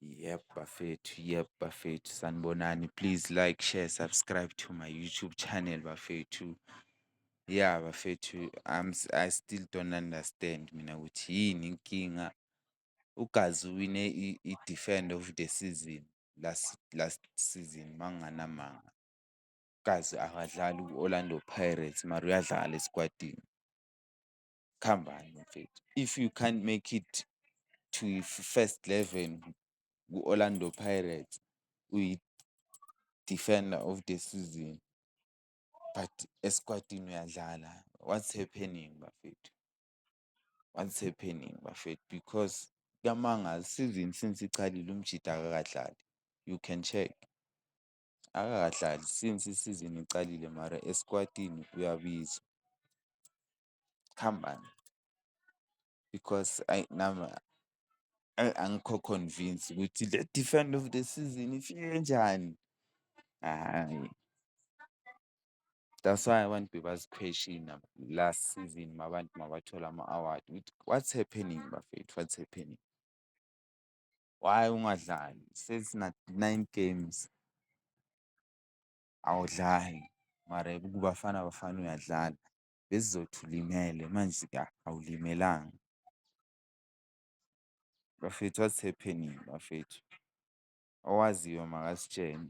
Yep bafethu, yep bafethu sanibonani. Please like, share, subscribe to my YouTube channel bafethu. Ya bafethu I'm I still don't understand mina ukuthi yini inkinga. UGazi uwine i- i-defend of the season last last season manginganamanga. UGazi akadlali ku-Orlando Pirates mara uyadlala esikwadini. khambani mfethu if you can't make it to first eleven ku-Orlando Pirates uyi-defender of the season but esikwatini uyadlala what's happening bafethu? What's happening bafethu? Because kuyamangaza isizini since iqalile uMjita akakadlali you can check. akakadlali since i-season iqalile mara esikwatini uyabizwa. Kuhambani? Because ayi nami ayi angikho convinced ukuthi le defender of the season ifike kanjani? Hhayi, that's why abantu bebazikhweshina last season uma abantu uma bathola ama-award ukuthi what's happening bafethu, what's happening? Why ungadlali? Sesi na nine games awudlali mara kuBafana Bafana uyadlala. Besizothi ulimele manje ka awulimelanga. Bafethu what's happening bafethu? Owaziyo makasitshene.